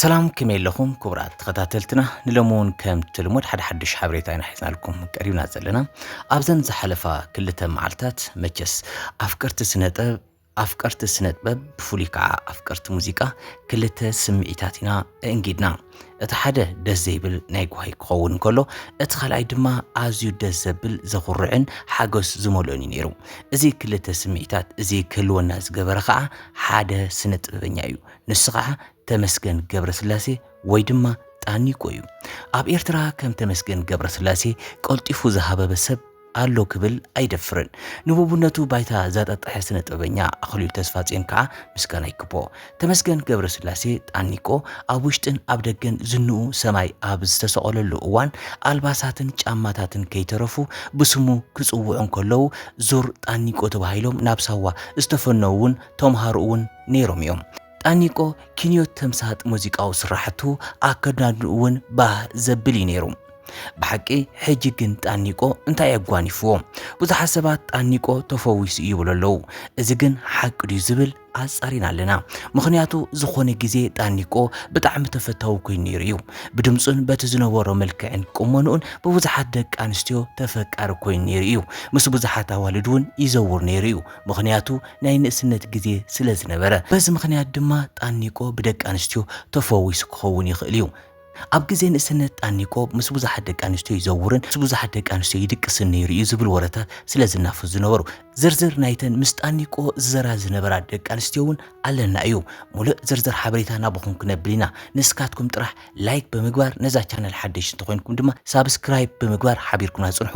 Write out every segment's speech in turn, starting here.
ሰላም ከመይ ኣለኹም ክቡራት ተኸታተልትና ንሎሚ እውን ከም ትልሙድ ሓደ ሓድሽ ሓበሬታ ኢና ሒዝናልኩም ቀሪብና ዘለና ኣብዘን ዝሓለፋ ክልተ መዓልትታት መቸስ ኣፍቀርቲ ስነ ጥበብ ኣፍቀርቲ ስነጥበብ ብፍሉይ ከዓ ኣፍቀርቲ ሙዚቃ ክልተ ስምዒታት ኢና እእንጊድና። እቲ ሓደ ደስ ዘይብል ናይ ጓሂ ክኸውን እንከሎ እቲ ካልኣይ ድማ ኣዝዩ ደስ ዘብል ዘኹርዕን ሓጎስ ዝመልኦን እዩ ነይሩ። እዚ ክልተ ስምዒታት እዚ ክህልወና ዝገበረ ከዓ ሓደ ስነ ጥበበኛ እዩ። ንሱ ከዓ ተመስገን ገብረስላሴ ወይ ድማ ጣኒቆ እዩ። ኣብ ኤርትራ ከም ተመስገን ገብረስላሴ ቀልጢፉ ዝሃበበ ሰብ ኣሎ ክብል ኣይደፍርን። ንቡቡነቱ ባይታ ዛጣጠሐ ስነጥበበኛ ኣኽሊሉ ተስፋጽዮን ከኣ ምስጋና ይግብኦ። ተመስገን ገብረስላሴ፣ ጣኒቆ፣ ኣብ ውሽጥን ኣብ ደገን ዝንኡ ሰማይ ኣብ ዝተሰቐለሉ እዋን ኣልባሳትን ጫማታትን ከይተረፉ ብስሙ ክጽውዑ እንከለዉ ዙር ጣኒቆ ተባሂሎም ናብ ሳዋ ዝተፈነዉ'ውን ተምሃሮኡ'ውን ነይሮም'ዮም። ጣኒቆ ኪንዮት ተምሳጥ ሙዚቃዊ ስራሕቱ ኣከዳድንኡ እውን ባህ ዘብል እዩ ነይሩ። ብሓቂ ሕጂ ግን ጣኒቆ እንታይ ኣጓኒፍዎ? ብዙሓት ሰባት ጣኒቆ ተፈዊሱ እዩ ይብሉ ኣለዉ። እዚ ግን ሓቂ ድዩ ዝብል ኣጻሪና ኣለና። ምኽንያቱ ዝኾነ ግዜ ጣኒቆ ብጣዕሚ ተፈታዊ ኮይኑ ነይሩ እዩ። ብድምጹን በቲ ዝነበሮ መልክዕን ቁመንኡን ብብዙሓት ደቂ ኣንስትዮ ተፈቃሪ ኮይኑ ነይሩ እዩ። ምስ ብዙሓት ኣዋልድ እውን ይዘውር ነይሩ እዩ። ምኽንያቱ ናይ ንእስነት ግዜ ስለ ዝነበረ፣ በዚ ምኽንያት ድማ ጣኒቆ ብደቂ ኣንስትዮ ተፈዊሱ ክኸውን ይኽእል እዩ። ኣብ ግዜ ንእስነት ጣኒቆ ምስ ብዙሓት ደቂ ኣንስትዮ ይዘውርን ምስ ብዙሓት ደቂ ኣንስትዮ ይድቅስን ነይሩ እዩ ዝብል ወረታት ስለ ዝናፈሱ ዝነበሩ። ዝርዝር ናይተን ምስ ጣኒቆ ዝዘራ ዝነበራ ደቂ ኣንስትዮ እውን ኣለና እዩ። ሙልእ ዝርዝር ሓበሬታ ናባኹም ክነብል ኢና። ንስካትኩም ጥራሕ ላይክ ብምግባር ነዛ ቻነል ሓደሽቲ እንተኾይንኩም ድማ ሳብስክራይብ ብምግባር ሓቢርኩምና ፅንሑ።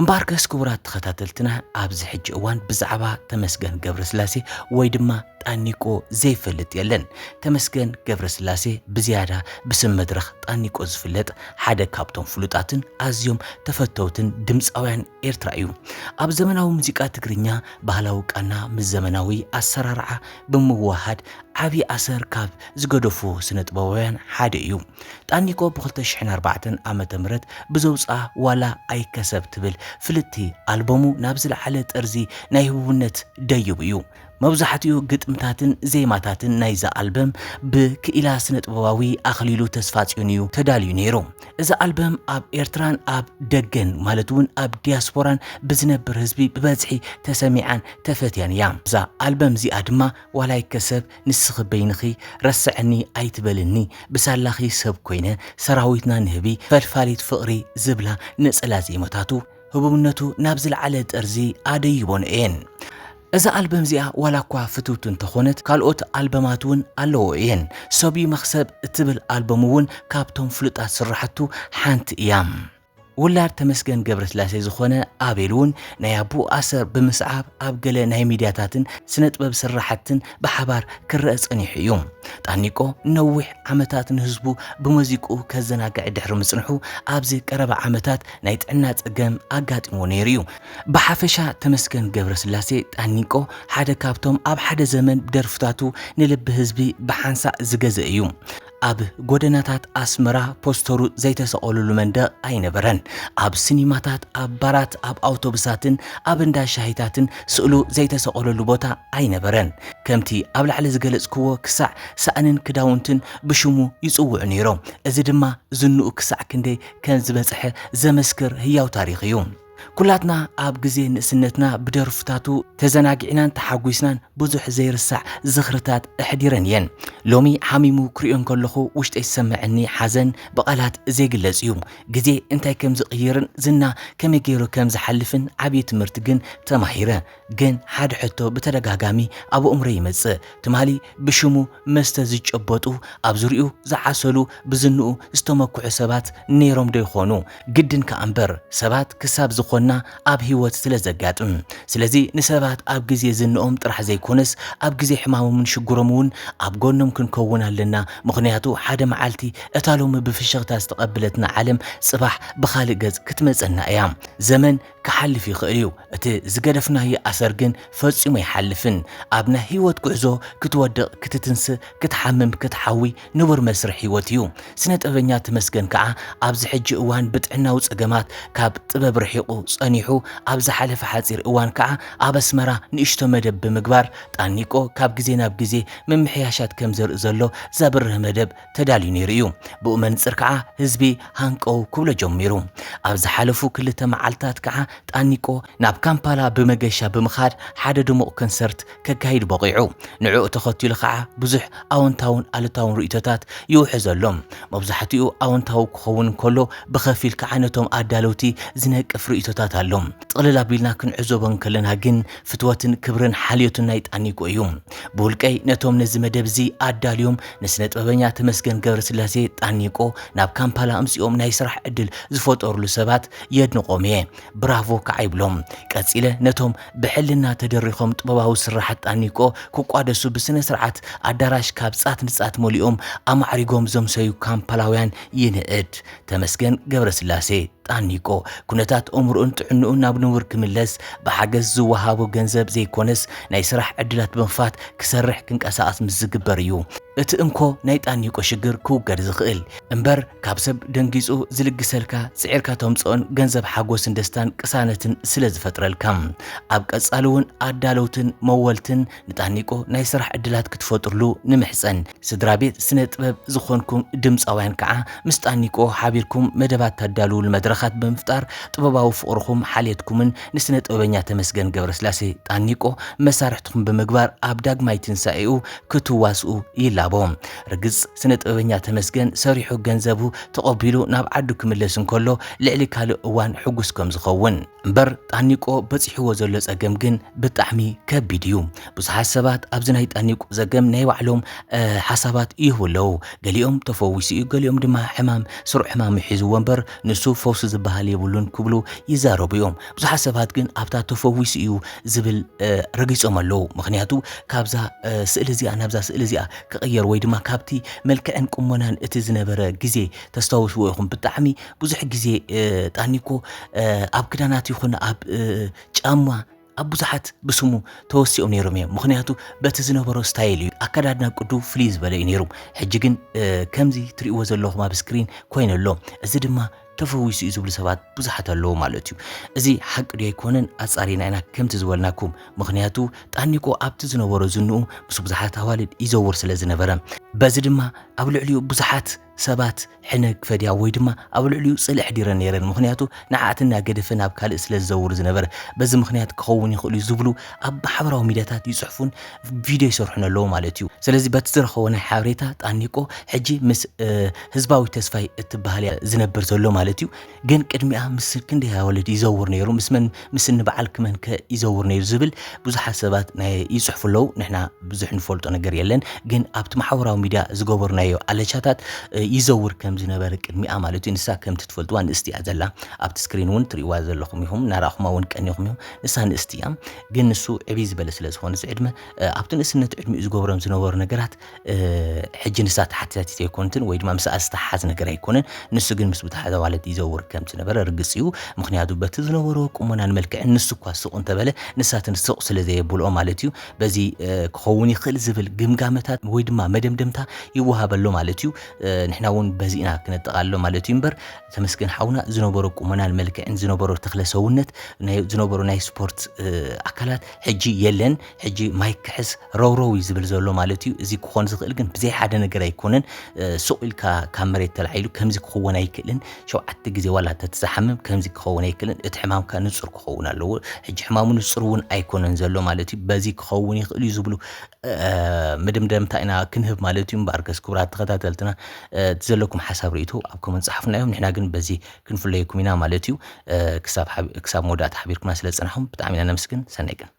እምበኣርከስ ክቡራት ተኸታተልትና ኣብዚ ሕጂ እዋን ብዛዕባ ተመስገን ገብረስላሴ ወይ ድማ ጣኒቆ ዘይፈልጥ የለን። ተመስገን ገብረስላሴ ብዝያዳ ብስም መድረኽ ጣኒቆ ዝፍለጥ ሓደ ካብቶም ፍሉጣትን ኣዝዮም ተፈተውትን ድምጻውያን ኤርትራ እዩ። ኣብ ዘመናዊ ሙዚቃ ትግርኛ ባህላዊ ቃና ምስ ዘመናዊ ኣሰራርዓ ብምውህሃድ ዓቢ ኣሰር ካብ ዝገደፉ ስነጥበባውያን ሓደ እዩ። ጣኒቆ ብ ክልተ ሽሕን ኣርባዕተን ዓመተ ምህረት ብዘውጽኣ ዋላ ኣይከሰብ ትብል ፍልጥቲ ኣልበሙ ናብ ዝለዓለ ጠርዚ ናይ ህቡብነት ደይቡ እዩ። መብዛሕትኡ ግጥምታትን ዜማታትን ናይዛ ኣልበም ብ ክኢላ ስነጥበባዊ ኣኽሊሉ ተስፋጽዮን እዩ ተዳልዩ ነይሩ። እዛ ኣልበም ኣብ ኤርትራን ኣብ ደገን ማለት እውን ኣብ ዲያስፖራን ብዝነብር ህዝቢ ብበዝሒ ተሰሚዓን ተፈትያን እያ እዛ ኣልበም እዚኣ ድማ ዋላ ይከሰብ ንስኺ በይንኺ ረስዐኒ ኣይትበልኒ ብሳላኺ ሰብ ኮይነ ሰራዊትና ንህቢ ፈልፋሊት ፍቕሪ ዝብላ ነጸላ ዜማታቱ ህቡብነቱ ናብ ዝለዓለ ጠርዚ ኣደይቦን እየን እዛ ኣልበም እዚኣ ዋላ እኳ ፍትውቲ እንተኾነት ካልኦት ኣልበማት እውን ኣለዎ እየን። ሰብ'ዩ መኽሰብ እትብል ኣልበሙ እውን ካብቶም ፍሉጣት ስራሕቱ ሓንቲ እያ። ውላድ ተመስገን ገብረስላሴ ዝኾነ ኣቤል እውን ናይ ኣቡኡ ኣሰር ብምስዓብ ኣብ ገለ ናይ ሚድያታትን ስነጥበብ ስራሕትን ብሓባር ክረኣ ጸኒሑ እዩ። ጣኒቆ ንነዊሕ ዓመታት ንህዝቡ ብመዚቅኡ ከዘናግዕ ድሕሪ ምጽንሑ ኣብዚ ቀረባ ዓመታት ናይ ጥዕና ጸገም ኣጋጢምዎ ነይሩ እዩ። ብሓፈሻ ተመስገን ገብረስላሴ፣ ጣኒቆ፣ ሓደ ካብቶም ኣብ ሓደ ዘመን ደርፍታቱ ንልቢ ህዝቢ ብሓንሳእ ዝገዘ እዩ። ኣብ ጎደናታት ኣስመራ ፖስተሩ ዘይተሰቐሉሉ መንደቕ ኣይነበረን። ኣብ ስኒማታት፣ ኣብ ባራት፣ ኣብ ኣውቶብሳትን ኣብ እንዳ ሻሂታትን ስእሉ ዘይተሰቐለሉ ቦታ ኣይነበረን። ከምቲ ኣብ ላዕሊ ዝገለጽክዎ ክሳዕ ሳእንን ክዳውንትን ብሽሙ ይጽውዑ ነይሮም። እዚ ድማ ዝንኡ ክሳዕ ክንደይ ከም ዝበጽሐ ዘመስክር ህያው ታሪኽ እዩ። ኩላትና ኣብ ግዜ ንእስነትና ብደርፍታቱ ተዘናጊዕናን ተሓጒስናን ብዙሕ ዘይርሳዕ ዝኽርታት ኣሕዲረን እየን። ሎሚ ሓሚሙ ክሪኦ እንከለኹ ውሽጠይ ዝሰመዐኒ ሓዘን ብቓላት ዘይግለጽ እዩ። ግዜ እንታይ ከም ዝቕይርን ዝና ከመይ ገይሩ ከም ዝሓልፍን ዓብዪ ትምህርቲ ግን ተማሂረ። ግን ሓደ ሕቶ ብተደጋጋሚ ኣብ ኣእምሮይ ይመጽእ፣ ትማሊ ብሽሙ መስተ ዝጨበጡ፣ ኣብ ዙርይኡ ዝዓሰሉ፣ ብዝንኡ ዝተመክሑ ሰባት ነይሮምዶ ይኾኑ? ግድን ከኣ እምበር ሰባት ክሳብ ዝኾንና ኣብ ህይወት ስለ ዘጋጥም። ስለዚ ንሰባት ኣብ ግዜ ዝንኦም ጥራሕ ዘይኮነስ ኣብ ግዜ ሕማሞምን ሽግሮምን እውን ኣብ ጎኖም ክንከውን ኣለና ምኽንያቱ ሓደ መዓልቲ እታ ሎሚ ብፍሽኽታ ዝተቐብለትና ዓለም ጽባሕ ብኻልእ ገጽ ክትመጸና እያ። ዘመን ክሓልፍ ይኽእል እዩ፣ እቲ ዝገደፍናዮ ኣሰር ግን ፈጺሙ ኣይሓልፍን። ኣብ ናይ ህይወት ጉዕዞ ክትወድቕ፣ ክትትንስእ፣ ክትሓምም፣ ክትሓዊ ንቡር መስርሕ ህይወት እዩ። ስነ-ጥበበኛ ተመስገን ከኣ ኣብዚ ሕጂ እዋን ብጥዕናዊ ጸገማት ካብ ጥበብ ርሒቑ ጸኒሑ፣ ኣብ ዝሓለፈ ሓጺር እዋን ከኣ ኣብ ኣስመራ ንእሽቶ መደብ ብምግባር ጣኒቆ ካብ ግዜ ናብ ግዜ ምምሕያሻት ከም ዘርኢ ዘሎ ዘብርህ መደብ ተዳልዩ ነይሩ እዩ። ብኡ መንጽር ከኣ ህዝቢ ሃንቀው ክብሎ ጀሚሩ። ኣብ ዝሓለፉ ክልተ መዓልታት ከኣ ጣኒቆ ናብ ካምፓላ ብመገሻ ብምኻድ ሓደ ድሙቕ ከንሰርት ከካይድ በቒዑ። ንዕኡ ተኸቲሉ ከኣ ብዙሕ ኣወንታውን ኣሉታውን ርእይቶታት ይውሕዝ ኣሎ። መብዛሕትኡ ኣወንታዊ ክኸውን እንከሎ ብኸፊል ከኣ ነቶም ኣዳለውቲ ዝነቅፍ ርእይቶታት ኣሎ። ጥቕልል ኣቢልና ክንዕዘቦ እንከለና ግን ፍትወትን ክብርን ሓልዮትን ናይ ጣኒቆ እዩ። ብውልቀይ ነቶም ነዚ መደብ እዚ ኣዳልዮም ንስነ ጥበበኛ ተመስገን ገብረስላሴ ጣኒቆ ናብ ካምፓላ ኣምጺኦም ናይ ስራሕ ዕድል ዝፈጠርሉ ሰባት የድንቆም እየ ብራቮ ከዓ ይብሎም ቀጺለ ነቶም ብሕልና ተደሪኾም ጥበባዊ ስርሓት ጣኒቆ ክቋደሱ ብስነ ስርዓት ኣዳራሽ ካብ ጻት ንጻት መሊኦም ኣማዕሪጎም ዘምሰዩ ካምፓላውያን ይንእድ ተመስገን ገብረስላሴ፣ ጣኒቆ፣ ኩነታት ኦምርኡን ጥዕንኡን ናብ ንቡር ክምለስ ብሓገዝ ዝወሃቦ ገንዘብ ዘይኮነስ ናይ ስራሕ ዕድላት ብምኽፋት ክሰርሕ ክንቀሳቐስ ምስ ዝግበር እዩ እቲ እንኮ ናይ ጣኒቆ ሽግር ክውገድ ዝኽእል እምበር ካብ ሰብ ደንጊጹ ዝልግሰልካ ጽዒርካ ተምጽኦን ገንዘብ ሓጎስን ደስታን ቅሳነትን ስለ ዝፈጥረልካ ኣብ ቀጻሊ እውን ኣዳለውትን መወልትን ንታኒቆ ናይ ስራሕ ዕድላት ክትፈጥርሉ ንምሕጸን። ስድራ ቤት ስነ ጥበብ ዝኾንኩም ድምጻውያን ከኣ ምስ ጣኒቆ ሓቢርኩም መደባት ተዳልዉሉ መድረኻት ብምፍጣር ጥበባዊ ፍቕርኹም ሓልየትኩምን ንስነ ጥበበኛ ተመስገን ገብረስላሴ፣ ጣኒቆ፣ መሳርሕትኹም ብምግባር ኣብ ዳግማይ ትንሳኤኡ ክትዋስኡ ይላቦ። ርግጽ ስነ ጥበበኛ ተመስገን ሰሪሑ ገንዘቡ ተቐቢሉ ናብ ዓዱ ክምለስ እንከሎ ልዕሊ ካልእ እዋን ሕጉስ ከምዝኸውን። እምበር ጣኒቆ በጺሕዎ ዘሎ ጸገም ግን ብጣዕሚ ከቢድ እዩ። ብዙሓት ሰባት ኣብዚ ናይ ጣኒቆ ዘገም ናይ ባዕሎም ሓሳባት ይህቡ ኣለዉ። ገሊኦም ተፈዊሱ እዩ፣ ገሊኦም ድማ ሕማም ስሩዕ ሕማም ሒዝዎ እምበር ንሱ ፈውሲ ዝበሃል የብሉን ክብሉ ይዛረቡ እዮም። ብዙሓት ሰባት ግን ኣብታ ተፈዊሱ እዩ ዝብል ረጊጾም ኣለዉ። ምክንያቱ ካብዛ ስእሊ እዚኣ ናብዛ ስእሊ እዚኣ ክቕየር ወይ ድማ ካብቲ መልክዕን ቁመናን እቲ ዝነበረ ግዜ ተስታውስዎ ኢኹም ብጣዕሚ ብዙሕ ግዜ ጣኒኮ ኣብ ክዳናት ይኹን ኣብ ጫማ ኣብ ብዙሓት ብስሙ ተወሲኦም ነይሮም እዮም ምክንያቱ በቲ ዝነበሮ ስታይል እዩ ኣከዳድና ቅዱ ፍልይ ዝበለ እዩ ነይሩ ሕጂ ግን ከምዚ ትሪእዎ ዘለኹም ኣብ ስክሪን ኮይኑ ኣሎ እዚ ድማ ተፈዊሱ እዩ ዝብሉ ሰባት ብዙሓት ኣለዉ ማለት እዩ እዚ ሓቂ ድዮ ኣይኮነን ኣጻሪና ኢና ከምቲ ዝበልናኩም ምክንያቱ ጣኒቆ ኣብቲ ዝነበሮ ዝንኡ ምስ ብዙሓት ኣዋልድ ይዘውር ስለ ዝነበረ በዚ ድማ ኣብ ልዕሊኡ ብዙሓት ሰባት ሕነ ክፈድያ ወይ ድማ ኣብ ልዕሊኡ ጽልኢ ኣሕዲረን ነይረን፣ ምኽንያቱ ንዓኣተን እናገደፈ ናብ ካልእ ስለ ዝዘውር ዝነበረ። በዚ ምኽንያት ክኸውን ይኽእል'ዩ ዝብሉ ኣብ ማሕበራዊ ሚድያታት ይጽሕፉን ቪድዮ ይሰርሑን ኣለዉ ማለት'ዩ። ስለዚ በቲ ዝረኸቦ ናይ ሓበሬታ ጣኒቆ ሕጂ ምስ ህዝባዊት ተስፋይ እትበሃል'ያ ዝነብር ዘሎ ማለት'ዩ። ግን ቅድሚኣ ምስ ክንደይ ኣዋልድ ይዘውር ነይሩ ምስ መን ምስ እኒ በዓልኪ መን ከ ይዘውር ነይሩ ዝብል ብዙሓት ሰባት ናይ ይጽሕፉ ኣለዉ ንሕና ብዙሕ ንፈልጦ ነገር የለን ግን ኣብቲ ማሕበራዊ ሚድያ ዝገበርናዮ ኣለቻታት ይዘውር ከም ዝነበረ ቅድሚኣ ማለት እዩ ንሳ ከምቲ ትፈልጥዋ ንእስቲ እያ ዘላ ኣብቲ ስክሪን እውን ትርእይዋ ዘለኹም ኢኹም እናረኣኹማ እውን ቀኒኹም ኢኹም ንሳ ንእስቲ እያ ግን ንሱ ዕብይ ዝበለ ስለ ዝኾነ እዚ ዕድመ ኣብቲ ንእስነት ዕድሚኡ ዝገብሮም ዝነበሩ ነገራት ሕጂ ንሳ ተሓታቲት ኣይኮንትን ወይ ድማ ምስኣ ዝተሓሓዝ ነገር ኣይኮነን። ንሱ ግን ምስ ብዙሓት ኣዋልድ ይዘውር ከም ዝነበረ ርግጽ እዩ። ምኽንያቱ በቲ ዝነበሮ ቁመናን መልክዕን ንሱ እኳ ስቕ እንተበለ ንሳትን ስቕ ስለ ዘየብልኦ ማለት እዩ። በዚ ክኸውን ይኽእል ዝብል ግምጋመታት ወይ ድማ መደምደምታ ይወሃብ ኣሎ ማለት እዩ። ንሕና እውን በዚ ኢና ክነጠቓሎ ማለት እዩ እምበር ተመስገን ሓውና ዝነበሮ ቁመናን መልክዕን ዝነበሮ ተክለ ሰውነት ናይ ዝነበሮ ናይ ስፖርት ኣካላት ሕጂ የለን። ሕጂ ማይክ ክሕስ ረውረው እዩ ዝብል ዘሎ ማለት እዩ። እዚ ክኾን ዝኽእል ግን ብዘይ ሓደ ነገር ኣይኮነን። ሱቕ ኢልካ ካብ መሬት ተላዒሉ ከምዚ ክኸውን ኣይክእልን። ሸውዓተ ግዜ ዋላ እንተትዝሓምም ከምዚ ክኸውን ኣይክእልን። እቲ ሕማምካ ንጹር ክኸውን ኣለዎ። ሕጂ ሕማሙ ንጹር እውን ኣይኮነን ዘሎ ማለት እዩ። በዚ ክኸውን ይኽእል እዩ ዝብሉ መደምደምታ ኢና ክንህብ ማለት እዩ። እምበኣርከስ ክቡራት ተኸታተልትና እቲ ዘለኩም ሓሳብ ርእይቶ ኣብ ኮመንት ጸሓፉና እዮም። ንሕና ግን በዚ ክንፍለየኩም ኢና ማለት እዩ። ክሳብ መወዳእታ ሓቢርኩና ስለ ዝጸናሕኩም ብጣዕሚ ኢና ነመስግን። ሰናይ ቀን።